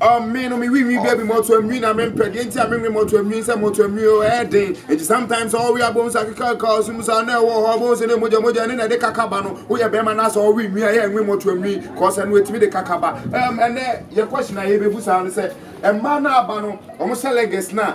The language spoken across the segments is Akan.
Ɔmee no me winwi baby mɔto anwi na me mpɛ deɛ nti a me nwe mɔto anwi sɛ mɔto anwi o ɛyɛ den nti sometimes ɔwe abom sa keka ka ɔsum sa na ɛwɔ hɔ ɔbom sɛ ne mogya mogya ne na ɛde kaka ba no woyɛ bɛrima na sɛ ɔwe nwi a yɛ nwe mɔto anwi kɔsɛ no ɛtumi de kaka ba ɛm ɛnɛ yɛ question a yɛbɛbu saa no sɛ ɛma no aba no ɔmo sɛ leggings na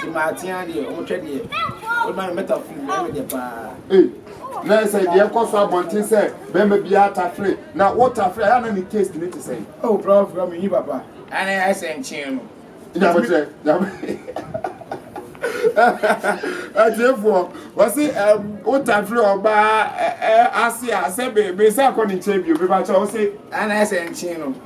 Ti maa tia deɛ ɔmo twɛ deɛ ɔmo ma no mɛta firi mu ɛmɛ deɛ paa. Ee na ɛsɛ deɛ ɛkɔ so abɔnten sɛ bɛrima bi atafere na wotafere ayɛ na ne taste ne te sɛ. Oh prof prof mi yi papa ɛna ɛsɛ nkyɛn no. Nyabotrɛ nyabo atiefoɔ wɔsi wotafere ɔbaa ase a sɛ bɛ bɛ sɛ akɔ ne nkyɛn bio bɛ ba kyɛ wɔsi. Ɛna ɛsɛ nkyɛn no.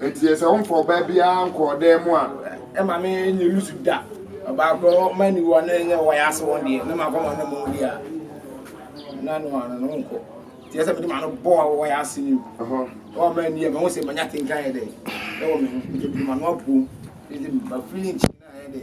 Enti sɛ womfa ɔbaa biara nkɔ ɔdan mu a, ɛma me nyɛ nusu da. Ɔbaa korɔ ma aniwa na ɛnyɛ wɔyɛ ase wɔn deɛ, na makɔ ma no mu deɛ a, na no ano no nkɔ. Nti ɛsɛ mede ma no bɔ a wɔyɛ ase ni. Wɔn ma ani a, mahu sɛ manya tenka yɛ dɛ. Ɛwɔ me ho, nti mede ma no apuom. Nti mafiri nkyɛn na ayɛ dɛ.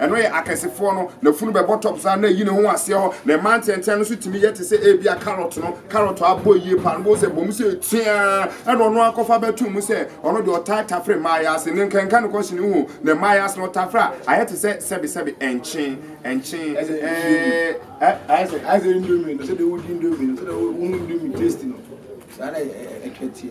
Ɛno yɛ akɛsefoɔ no. N'afunu bɛbɔ top saa na ayi ne ho aseɛ hɔ. Ne mma ntɛntɛn no nso tumi yɛ te sɛ ebia carrot no. Carrot a abɔ yie paa no, wobɛhu sɛ ɛbɔ mu sɛ tiaa, ɛna ɔno ara kɔfa bɛto mu sɛ ɔno deɛ ɔtaa tafere mmaa yɛ ase. Ne nkanka no kɔhye ne ho ne mmaa yɛ ase na ɔtafere a, ayɛ te sɛ sɛbesɛbe, nkye, nkye, ɛɛ, ayɛ sɛ. Ayɛ sɛ indomie no, sɛdeɛ wodi indomie no, sɛdeɛ wohu indomie taste no, saa na ɛteɛ.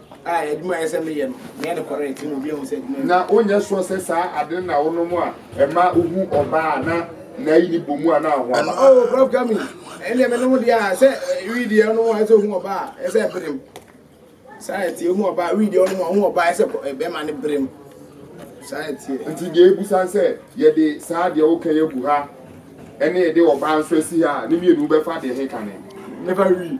A Adwuma a ɛyɛ sɛ meyɛ no, meyɛ no kɔrɛɛt na obi ahu sɛ adwuma yɛ. Na wonyɛ sure sɛ saa ade no na wonom a ɛma wuhu ɔbaa a na n'ayi no bɔ mu a na wo ho aba. Oh, Prof. Kami, ɛnneɛ menom deɛ a, sɛ wii deɛ wonom a ɛyɛ sɛ wohu ɔbaa a, ɛyɛ sɛ ɛberem. Saa ɛteɛ, wohu ɔbaa, wii deɛ wonom a wohu ɔbaa, ɛyɛ sɛ kɔ- eh, bɛrima no berem. Saa ɛteɛ. Nti deɛ ebusa sɛ yɛde saa deɛ woka yi agu ha ɛne yɛde ɔbaa nso asi ha a, ne mmienu wobɛfa deɛ he kane? Mɛfa wii.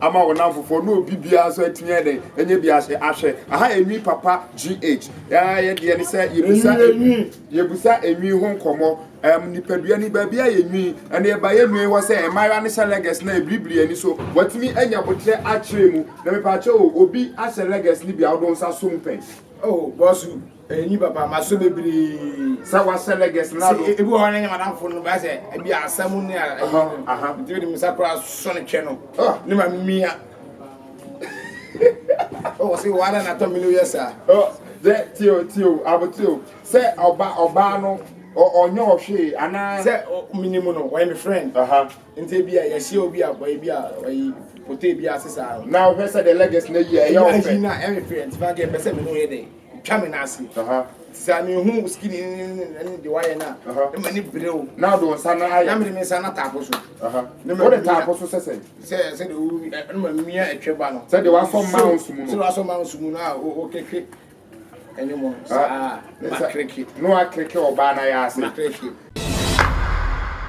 ama wo namfofoɔ na obi biara nso atumi ayɛ dɛn ɛnyɛ bi ahyɛ ahwɛ aha enwi papa gh yɛ deɛ ne sɛ yɛbusa enwi yɛbusa enwi ho nkɔmɔ ɛm nipadua ni baabi a yɛnwi ɛna ɛba yɛ nwi hɔ sɛ mmaayewa ne hyɛ lɛgɛs na ebiribiri ani so watumi anya botrɛ akyerɛ mu na mepaakyɛ o obi ahyɛ lɛgɛs ne bi a ɔdo nsa so mpɛn oh bɔsu ɛni papa ma so bebree sɛ wasɛ lɛgɛs na do ebi wɔ hɔ na nyɛ madamfo no ba sɛ ebi asɛm ne a ɛyi nti de me nsa koraa sɔ ne twɛ no ne ma mia wɔ se wɔ ada natɔ me no yɛ saa dɛ tio tio abotio sɛ ɔba ɔbaa no ɔnyɛ ɔhwee anaa sɛ menim no ɔyɛ me friend nti ebi a yɛhyɛ obi a ɔyɛ bi a ɔyɛ pote bi ase saa na ɔhwɛ sɛ de lɛgɛs na yi a ɛyɛ ɔfɛ na ɛyɛ fɛ nti ma gɛ pɛ sɛ me no yɛ dɛ Twa me nan ase. Sɛ mehu wo skin ne deɛ wayɛ no a, ne m'ani bere wo. Na wode wo nsa no ayɛ. Na mede me nsa no ataa po so. Wode taa po so sɛ sɛn? Sɛ sɛdeɛ wo ɛno ma mmea ɛtwɛ ba no. Sɛdeɛ wasɔ mmaa wo sumu no. Sɛdeɛ wasɔ mmaa wo sumu no a wokeke ɛne mu no. Saa na wakreke. Na wakreke ɔbaa no ayɛ ase. Makreke.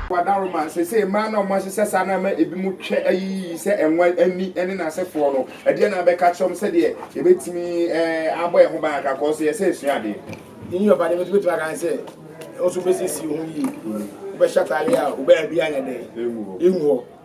Wadaroma, Seesei mmaa no a wɔahyehyɛ saa no ama ebinom twɛ ayi yiye sɛ ɛnwa ani ne n'asefoɔ no. Ɛdeɛn na wobɛka akyerɛ wɔn sɛdeɛ yɛbɛtumi abɔ yɛn ho ban kakra kɔɔ sɛ yɛsɛ yɛsua adeɛ? In your body, which between can say, also basis you who ye, Ubeshatali, Ubeabian, and Iwo.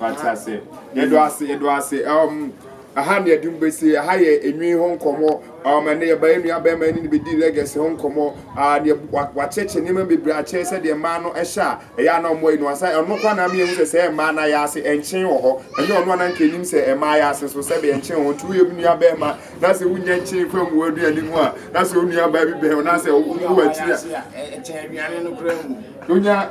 Wate ase. Yɛdɔ ase, yɛdɔ ase. Um, aha na yɛde mu besi. Aha yɛ enwi ho nkɔmɔ. Um, ɛnna yɛba yɛn nua bɛrima ne ne bedi legacy ho nkɔmɔ. Ah, deɛ wakyɛkyɛ nneɛma bebree akyɛ sɛ deɛ mmaa no ɛhyɛ a ɛyɛ ana ɔmo ayi no asa. Ɛno kora na ama yɛn sɛ sɛ mmaa na yɛ ase ɛnkyen wɔ hɔ. Ɛnyɛ ɔno ananka enim sɛ mmaa yɛ ase so sɛ bɛ ɛnkyen ho. Nti woyɛ nua bɛrima na sɛ wunya nkyen fa ngu aduane mu a na sɛ onua baa bi bɛn na sɛ wo akyiri a. Ɛkyɛn aduane no kora mu. Wonya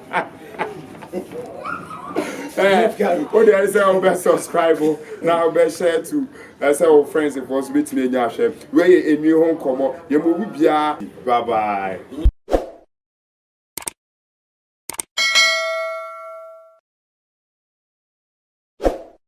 o de ɛsɛ o bɛ subscribe o na o bɛ share to ɛsɛ o friends fɔ so bɛ tumi enya ahwɛ wei yɛ enwi ho nkɔmɔ yɛ mo wu biara bye bye.